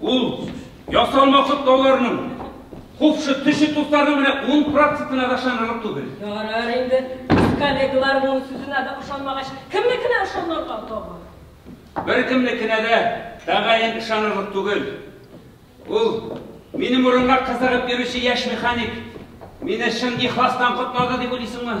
Ул ясалма котлауларның купшы төше туфтарның менә ун процентына да ышанырлык түгел. Ярар инде, коллегалар моның сүзенә дә ышанмагач, кемнекенә ышанырга тагы? Беркемнекенә дә тәгаен ышанырлык түгел. Ул минем урынга кызыгып йөрүче яшь механик. Мине чын ихластан котлады дип уйлыйсыңмы?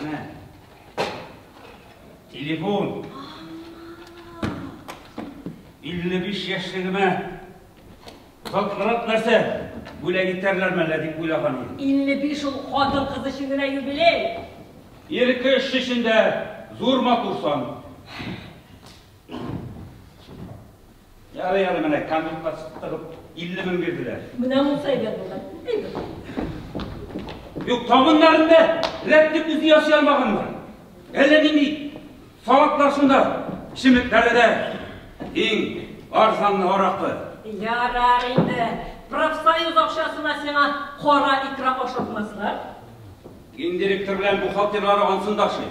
Менә. Телефон. 55 яшьлегемә Котлырак нәрсә? Бүләк итәрләр мәллә дип уйлаган идем. 55 ул хатын кыз өчен генә юбилей. Ирке эш өчен дә зур матур сан. Ярый әле менә камюкка тыгып 50 мең бирделәр. Менә монсы әйбәт булган. Әйбәт. Юк, табыннарын да рәтлек үзе ясый алмаганнар. Әллә нинди салатлар шунда, чеметләре дә иң арзанлы аракы. Ярар инде. Профсоюз акчасына сиңа кара икра ашатмаслар. Гендиректор белән бухгалтерлары ансын ташый.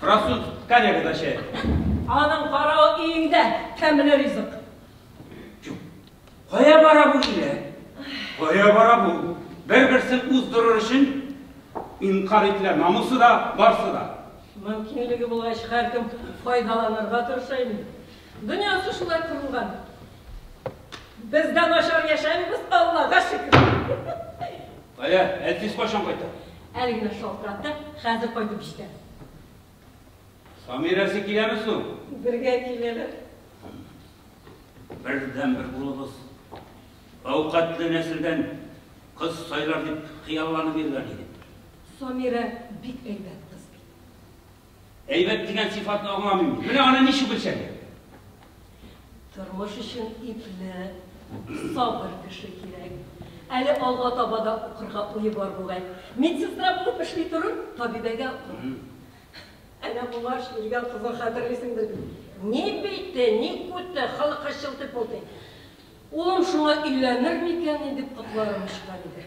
Француз коллега да чәй. Аның каравы өеңдә тәмле ризык. Кая бара бу иле? Кая бара бу? Бер-берсен уздырыр өчен инкар ителә, намусы да, барсы да. Мөмкинлеге булгач, һәркем файдаланырга тырыша инде. Дөньясы шулай корылган. Без дә начар яшәмибез, Аллага шөкер. Кая? Әтиз кайчан кайта? Әле генә шалтыратты, хәзер кайтып җитә. Самирәсе киләме соң? Бергә киләләр. Бердәнбер улыбыз әүкатле нәселдән кыз сайлар дип хыялланып йөргән идем. Самирә бик әйбәт кыз бит. Әйбәт дигән сыйфатны аңламыйм. Менә аны ничек үлчәргә? Тормыш өчен ипле, сабыр кеше кирәк. Әле алга таба да укырга уе бар бугай. Медсестра булып эшли торыр, табибәгә укыр. Әнә моңа шүргә кызын хәтерлисеңдер бит. Ни бите, ни күте, халыкка чылтый пылтый. Улым шуңа өйләнер микәнни дип котларым очкан иде.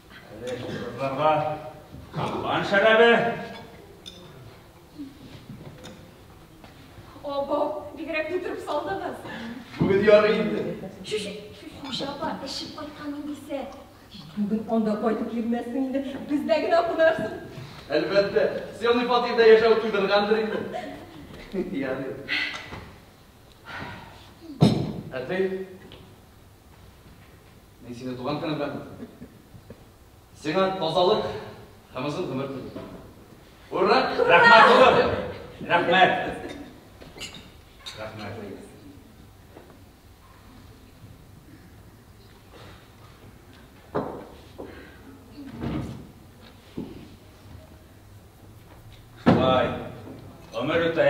Әле кызларга капкан шәрабе. Обо, бигрәк көттереп салдыгыз. Бүген ярый инде. Чүш, хуҗа апа, эчеп кайткан индисә. Бүген анда кайтып йөрмәсең инде, бездә генә кунарсың. Әлбәттә, съемный фатирда яшәү туйдыргандыр инде. Ярый. Әти, Мин сине туган көне белән котлыйм. Сиңа тазалык һәм озын гомер телим. Ура! Рәхмәт, улым! Рәхмәт! Рәхмәт! Шулай, гомер үтә,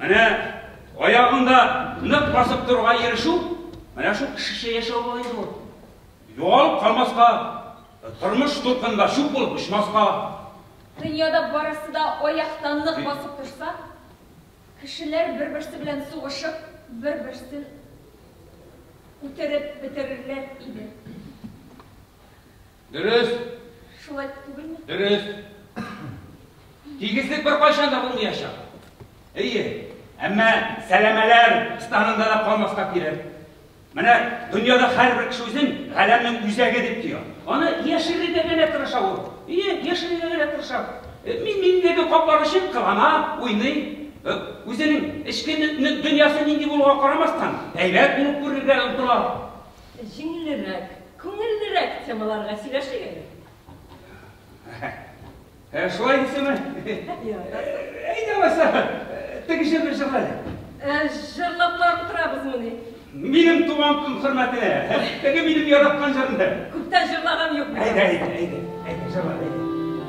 Менә аягында нык басып торырга ирешү, менә шул кешечә яшәү була инде ул. Югалып калмаска, тормыш дулкынында чүп булып очмаска. Дөньяда барысы да аякта нык басып торса, кешеләр бер-берсе белән сугышып, бер-берсен үтереп бетерерләр иде. Дөрес. Шулай түгелме? Дөрес. Тигезлек беркайчан да булмаячак. Әйе. Әмма сәләмәләр станында да калмаска кирәк. Менә дөньяда һәрбер кеше үзен галәмнең үзәге дип тоя. Аны яшерергә генә тырыша ул. Ие, яшерергә генә тырыша. Э, мин миндәге каплар өчен кылана, уйный. Э, үзенең эчке дөньясы нинди булуга карамастан, әйбәт булып күрергә омтыла. Җиңелрәк, күңеллерәк темаларга сөйләшик әле. Ә шулай дисеме? Әйдә алайса, теге җырны җырла әле. Ә җырлап барып утырабызмыни? Минем туган көн хөрмәтенә, теге минем яраткан җырымны. Күптән җырлаган юк. Әйдә, әйдә, әйдә, әйдә, җырла, әйдә.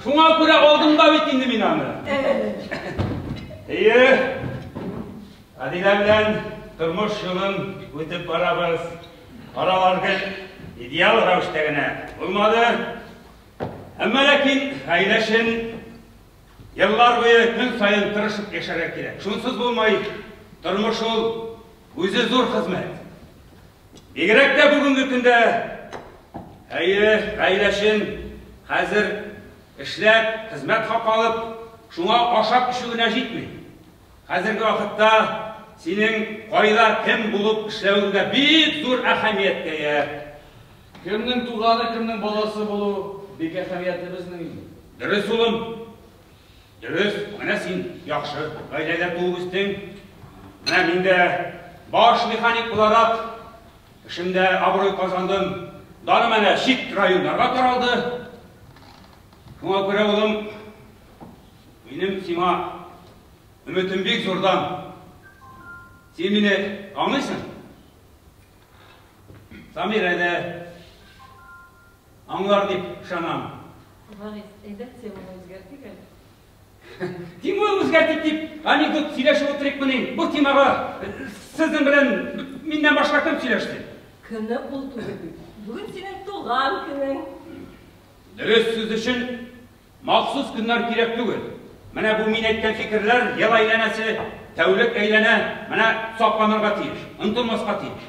Шуңа күрә алдым да бит инде мин аны. Әйе. Адилә белән тормыш юлын үтеп барабыз. Аралар гел идеал рәвештә генә булмады. Әмма ләкин гаилә өчен еллар буе көн саен тырышып яшәргә кирәк. Шунсыз булмай, тормыш ул үзе зур хезмәт. Бигрәк тә бүгенге көндә, әйе, гаиләчен хәзер эшләп, хезмәт хакы алып, шуңа ашап эчү генә җитми. Хәзерге вакытта синең кайда, кем булып эшләвең дә бик зур әһәмияткә ия. Кемнең туганы, кемнең баласы булу бик әһәмиятле безнең өчен. Дөрес, улым. Дөрес, менә син яхшы гаиләдә туып үстең. Менә мин дә баш механик буларак эшемдә абруй казандым. Даным әнә чит районнарга таралды. Шуңа күрә, улым, минем сиңа өметем бик зурдан. Син мине аңлыйсың? Самирә дә аңлар дип ышанам. Гариф, әйдәк теманы үзгәртик әле. Тимур үзгәртик дип анекдот сөйләшеп утырыкмыни? Бу темага сезнең белән миннән башка кем сөйләште? Көнне ул түгел бит. Бүген синең туган көнең. Дөрес сүз өчен махсус көннәр кирәк түгел. Менә бу мин әйткән фикерләр ел әйләнәсе, тәүлек әйләнә, менә сакланырга тиеш, онтылмаска тиеш.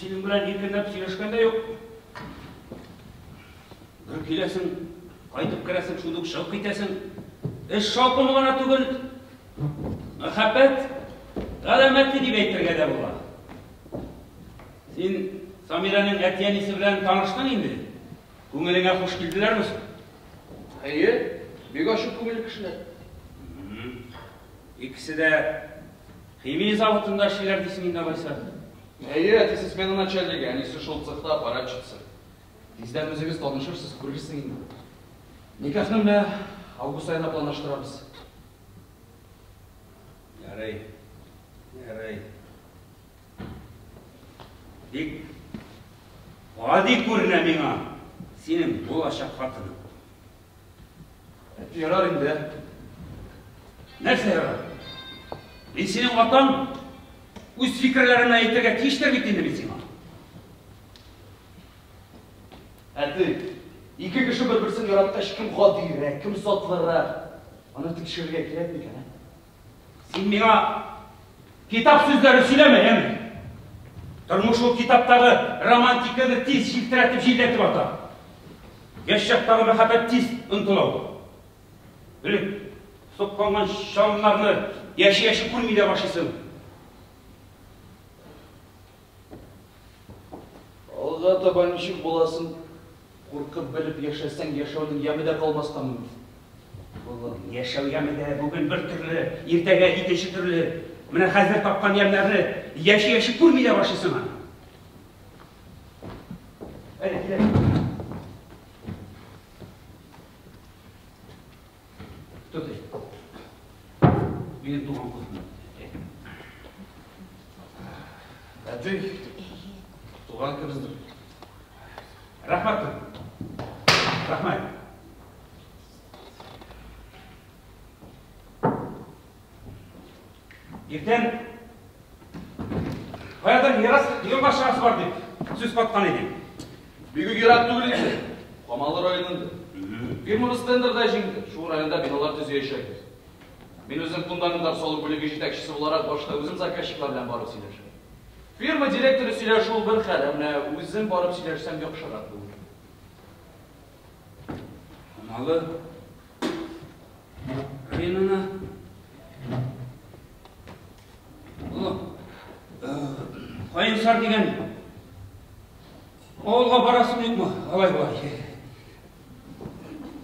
Синең белән иркенләп сөйләшкән дә юк. Бер киләсең, кайтып керәсең, шул ук чыгып китәсең. Эш шаукымы гына түгел. Мәхәббәт галәмәте дип әйтергә дә була. Син Самирәнең әти-әнисе белән таныштың инде. Күңелеңә хуш килделәрме соң? Әйе, бик ачык күңелле кешеләр. Икесе дә Химия заводында эшлиләр дисең инде, алайса? Әйе, әтисе смена начальнигы, әнисе шул цехта аппаратчица. Тиздән үзегез танышырсыз, күрерсең инде. Никахны менә август аена планлаштырабыз. Ярый. Ярый. Бик гади күренә миңа синең булачак хатының. Ярар инде. Нәрсә ярар? Мин синең атаң. Үз фикерләрен әйтергә тиештер бит инде мин сиңа. Әти, ике кеше бер-берсен яраткач, кем гадиерәк, кем сатлырак? Аны тикшерергә кирәкми икән, ә? Син миңа китап сүзләре сөйләмә, яме. Тормыш ул китаптагы романтиканы тиз җилтерәтеп җилләтеп ата. Яшь чактагы мәхәббәт тиз онтыла ул. Элек сукканган чалымнарны яши-яши күрми дә башлыйсың. Алга таба ничек буласын куркып белеп яшәсәң, яшәүнең яме дә калмас тамын. Улым, яшәү яме дә бүген бер төрле, иртәгә икенче төрле. Менә хәзер тапкан ямьләрне яши-яши күрми дә башлыйсың аны. Әле киләм. Тотый. Минем туган кызым. Әтей, туган кызым. Рәхмәт. Рәхмәт. Иртән Каядыр мирас дигән башкасы бар дип сүз каткан идем. Бик ерак түгел инде. Камалы районында. Фирмамыз тендерда җиңде. Шул районда биналар төзеячәкбез. Мин үзем фундаментар салу бүлеге җитәкчесе буларак башта үзем заказчиклар белән барып сөйләшәм. Фирма директоры сөйләшү бер хәл, ә менә үзем барып сөйләшсәм яхшырак булыр. Малы районына Кайынсар дигән авылга барасың юкмы? Алай болай.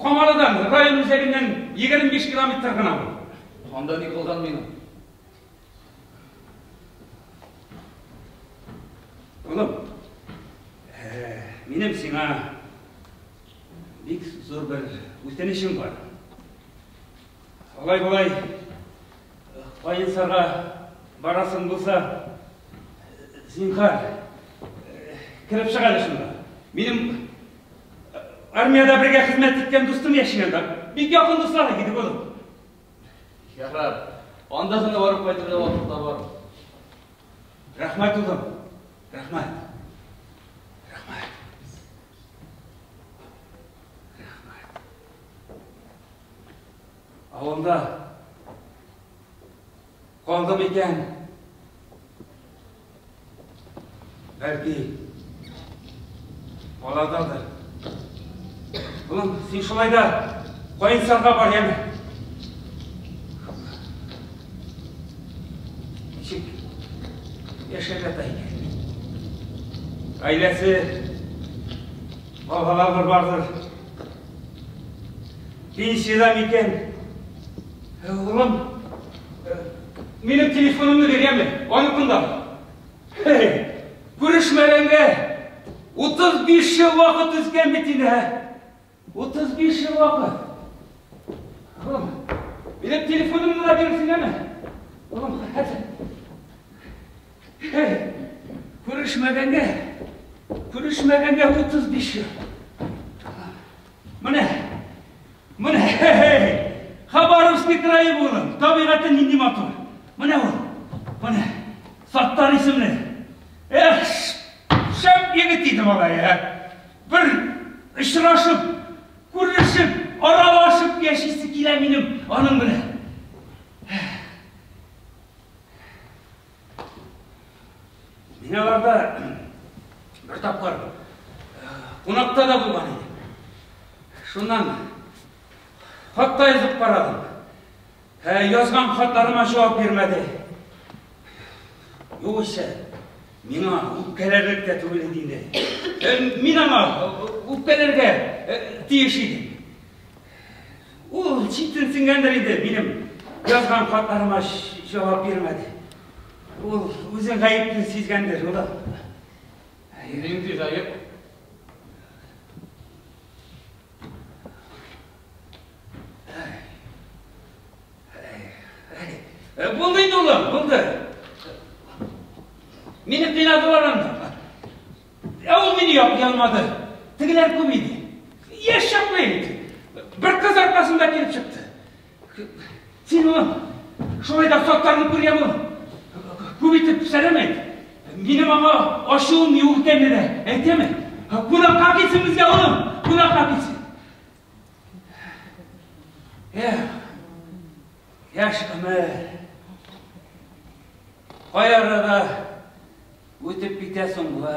Камалыдан район үзәгеннән 25 километр гына бу. Анда ни кылган минем? Улым, э, минем сиңа бик зур бер үтенечем бар. Алай-болай Каенсарга барасың булса, зинхар, кереп чыга әле шунда. Минем армиядә бергә хезмәт иткән дустым яши анда. Бик якын дуслар иде булып. Ярар. Анда гына барып кайтырга вакыт табар. Рәхмәт улым. Рәхмәт. Рәхмәт. Рәхмәт. Авылда Калдым икән. Бәлки, балададыр. Улым, син шулай да кайынсарга бар яме. Ничек яшәп ята икән? Гаиләсе, балалары бардыр. Пенсияда микән? Улым, минем телефонымны биргәнме? Аныкында. Күрешмәгәнгә 35 ел вакыт үткән бит инде, ә? 35 ел вакыт. Улым, минем телефонымны да бирсенәме? Улым, хәзер. Күрешмәгәнгә, күрешмәгәнгә 35 ел. Менә, менә, хе-хе-хе, Хабаровский крае булын, табигаты нинди матур. Менә ул, менә, Саттар исемле. Эх, шәп егет иде бала, я. Бер очрашып, күрешеп, аралашып яшисе килә минем аның белән. Биналарда бер тапкыр кунакта да булган иде. Шуннан хатта язып карадым. Ә язган хатларыма җавап бирмәде. Югыйсә, миңа үпкәләрлек тә түгел иде инде. Мин аңа үпкәләргә тиеш идем. Ул читенсенгәндер инде, минем язган хатларыма җавап бирмәде. Ул үзен гаепле сизгәндер, ул. Нинди гаеп? Булды инде, улым, булды. Мине кыйнадылар анда. Ә ул мине яп ялмады. Тегеләр күп иде. Яшь чакны инде. Бер кыз аркасында килеп чыкты. Син улым, шулай да соттарны күргән бул. Күп итеп сәлам әйт. Минем аңа ачуым юк икәнне дә әйтәме? Кунакка китсен безгә улым, кунакка китсен. Эх, яшь гомер. Кай арада үтеп китә соң бу?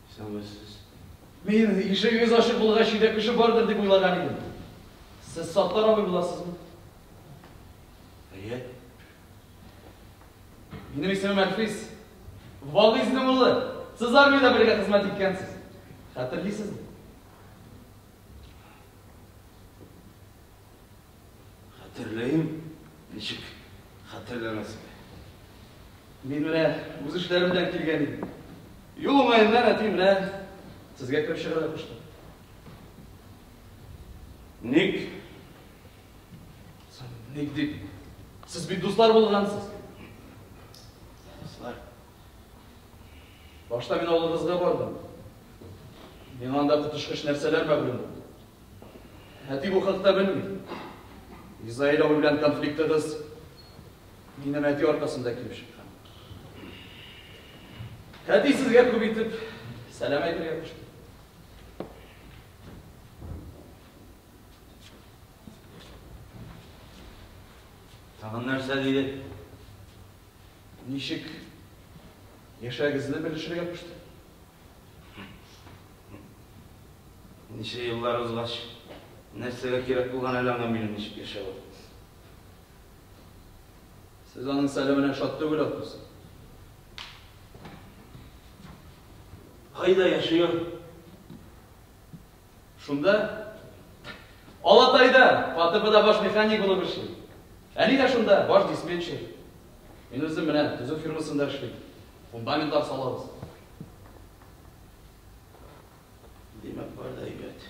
Соңгы сүз. Мин, ишегегез ачык булгач, өйдә кеше бардыр дип уйлаган идем. Сез Саттар абый буласызмы? Әйе. Минем исемем Әлфис. Вагыйзнең улы. Сез армиядә бергә хезмәт иткәнсез. Хәтерлисезме? Хәтерләем, ничек хәтерләмәскә. Мин менә үз эшләрем белән килгән идем. Юл уңаеннан әти менә сезгә кереп чыгарга кушты. Ник? Ник дип? Сез бит дуслар булгансыз. Дуслар. Башта мин авылыгызга бардым. Миңа анда котышкыч нәрсәләр мәгълүм булды. Әти бу хакта белми. Изаил абый белән конфликтыгыз минем әти аркасында килеп чыккан. Әти сезгә күп итеп сәлам әйтергә кушты. Тагын нәрсә диде? Ничек яшәгезне белешергә кушты. Ничә еллар узгач, нәрсәгә кирәк булган әле аңа минем ничек яшәвем? Сез аның сәламенә шат түгел атмыйсыз? Кайда яши ул? Шунда, Алатайда, ФАТЭБда баш механик булып эшлим. Әни дә шунда, баш диспетчер. Мин үзем менә төзү фирмасында эшлим. Фундаментлар салабыз. Димәк, бар да әйбәт.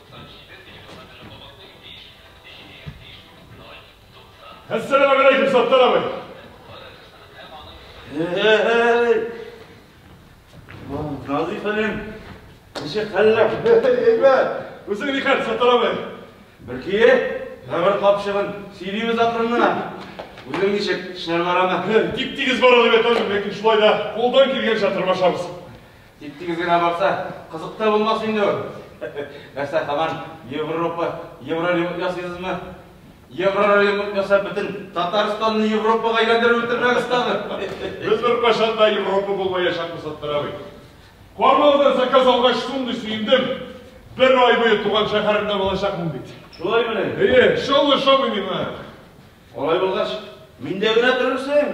Әссәләмә гәләйкем, Саттар абый. Эй! Назый хәлем, ничек хәлләр? Әйбәт. Үзең ни хәл, Саттар абый? Бер көе, бер капчыгын сөйлибез акрынына. Үзең ничек, эшләр барамы? Тип-тигез бара дип әйтәм, ләкин шулай да кулдан килгәнчә тырмашабыз. Тип-тигез генә барса, кызык та булмас инде ул. Нәрсә, һаман Европа, еврорюмык ясыйсызмы? Еврорюмык ясап, бөтен Татарстанны Европага әйләндереп бетермәгез тагы. Без беркайчан да Европа булмаячакбыз, Саттар абый. Формалдан заказ алгач, шундый сөендем. Бер ай буе туган шәһәремдә булачакмын бит. Шулаймыни? Әйе, чаллы шабый миңа. Алай булгач, миндә генә торырсың.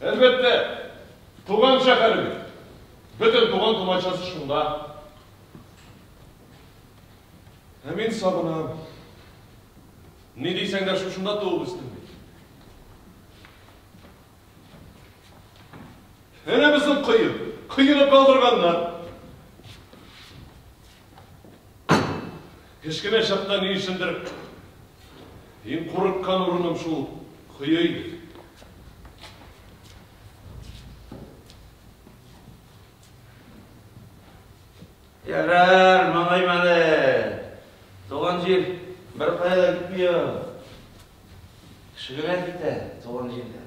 Әлбәттә, туган шәһәре бит. Бөтен туган-тумачасы шунда. Ә мин сагынам. Ни дисәң дә шушында туып үстем бит. Әнә безнең кое, коены калдырганнар. Кечкенә чакта ни өчендер иң курыккан урыным шул кое иде. Ярар, малаем әле. Туган җир беркая да китми ул. Кеше генә китә туган җирдән.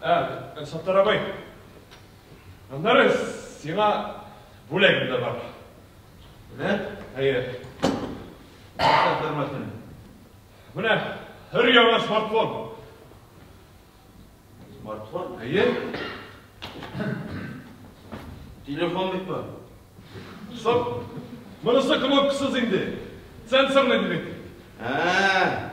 Ә, Саттар абый, аннары сиңа бүләгем дә бар. Менә, әйе. Саттармасын. Менә һәр яңа смартфон. Смартфон? Әйе. Телефон бит бар. Соң, монысы кнопкасыз инде. Сенсорный димәк. Ә,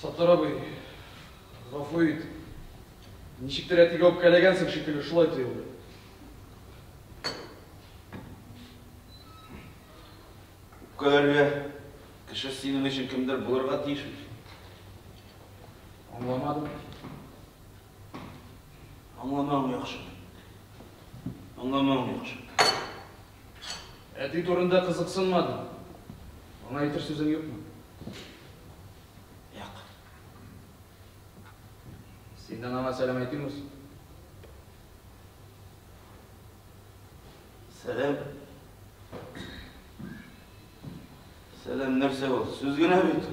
Саттар абый, гафу ит. Ничектер әтигә үпкәләгәнсең шикелле, шулай тоелды. Үпкәләргә кеше синең өчен кемдер булырга тиеш бит. Аңламадым. Аңламау яхшы. Аңламау яхшы. Әти турында кызыксынмадым. Аңа әйтер сүзең юкмы? Юк. Синнән аңа сәлам әйтим үз. Сәлам. Сәлам нәрсә ул? Сүз генә бит.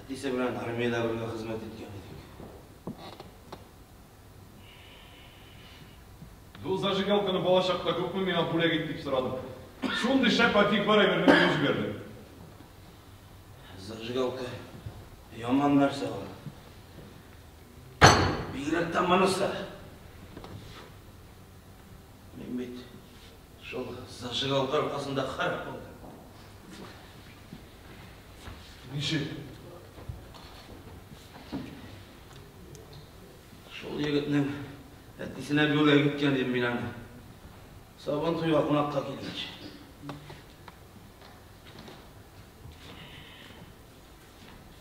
Әтисе белән армиядә бергә хезмәт иткән идек. Бу зажигалканы бала чакта күпме миңа бүләк ит дип сорадым. Шундый шәп антиквар әйберне мине җибәрде. Зажигалка яман нәрсә ул. Бигрәк тә монысы. Мин бит Шул зажигалка аркасында харап булды. Ничек? Шул егетнең әтисенә бүләк иткән дим мин аны. Сабан туйга кунакка килгәч.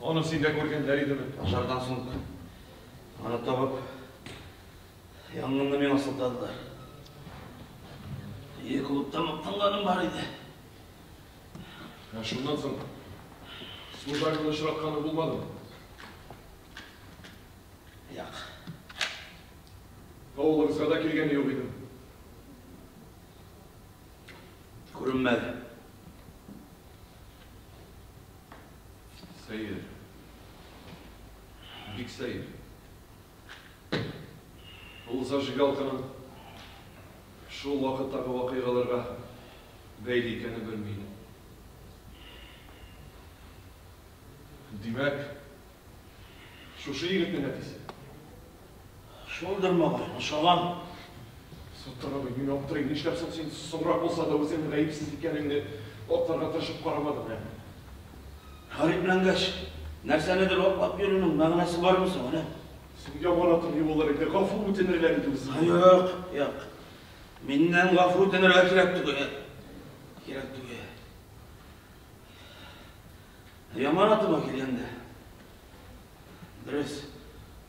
Аны син дә күргәннәр идеме? Пожардан соң аны табып, янгынны миңа сылтадылар. Ие клубта мактанганым бар иде. Ә шуннан соң служагыңны очратканы булмадымы? Як. Авылыгызга да килгәне юк идем. Күренмәде. Сәер. Бик сәер. Ул зажигалканың шул вакыттагы вакыйгаларга бәйле икәнен белми иде. Димәк, шушы егетнең әтисе. Шундыр малай, ошаган. Сутырыгыз, мин аптырыйм, нишләп соң син соңрак булса да үзеңнең гаепсез икәнеңне акларга тырышып карамадың, ә? Гарипләнгәч, нәрсәнедер аклап йөрүнең мәгънәсе бармы соң әле? Судья бара торгый булыр иде, гафу үтенерләр иде үзеңнән. Юк, юк. Миннән гафу үтенергә кирәк түгел. Кирәк түгел. Яманатыма килгәндә, дөрес.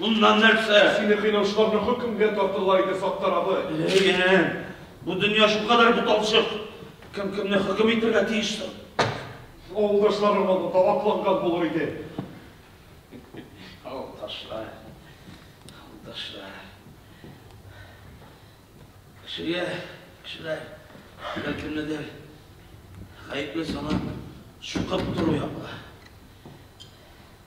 Шуннан нәрсә? Сине кыйнаучыларны хөкемгә тартырлар иде, Саттар абый. Ләем, бу дөнья шулкадәр буталчык. Кем кемне хөкем итәргә тиеш соң? Авылдашларың аны да акланган булыр иде. Авылдашлар, авылдашлар. Кешегә кешеләр әллә кемнедер гаепле санап чукып тору яклы.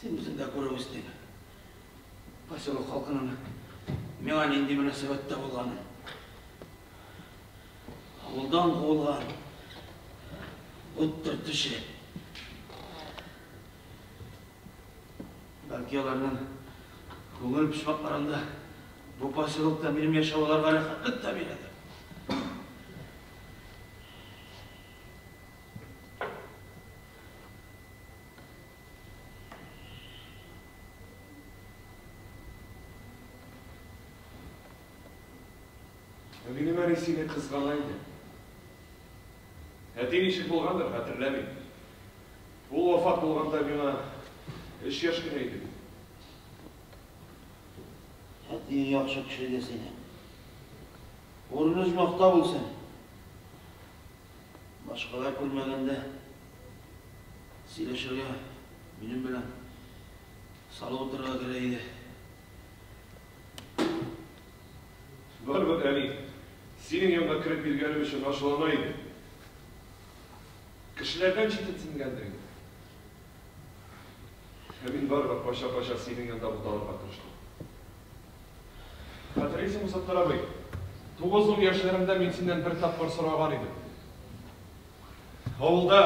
Син үзең дә күреп үстең, поселок халкының миңа нинди мөнәсәбәттә булганын. Авылдан куылган ут төртүче. Бәлки аларның күңел почмакларында бу поселокта минем яшәү аларга рәхәтлек тә бирәдер. Минем әни сине кызгана иде. Әти ничек булгандыр, хәтерләмим. Ул вафат булганда миңа өч яшь кенә иде. Әти яхшы кеше иде сине. Урын өзмәктә булсын. Башкалар күрмәгәндә сөйләшергә минем белән салып утырырга кирәк иде. Барыбер, әни, синең янга кереп биргәнем өчен ачулана иде. Кешеләрдән читенсенгәндер инде. Ә мин барыбер кача-кача синең янда буталырга тырыштым. Хәтерлисеңме, Саттар абый? Тугыз-ун яшьләремдә мин синнән бер тапкыр сораган идем. Авылда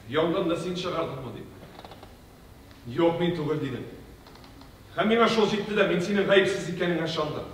янгынны син чыгардыңмы дип. Юк, мин түгел дидем. Һәм миңа шул җитте дә, мин синең гаепсез икәнеңә шандым.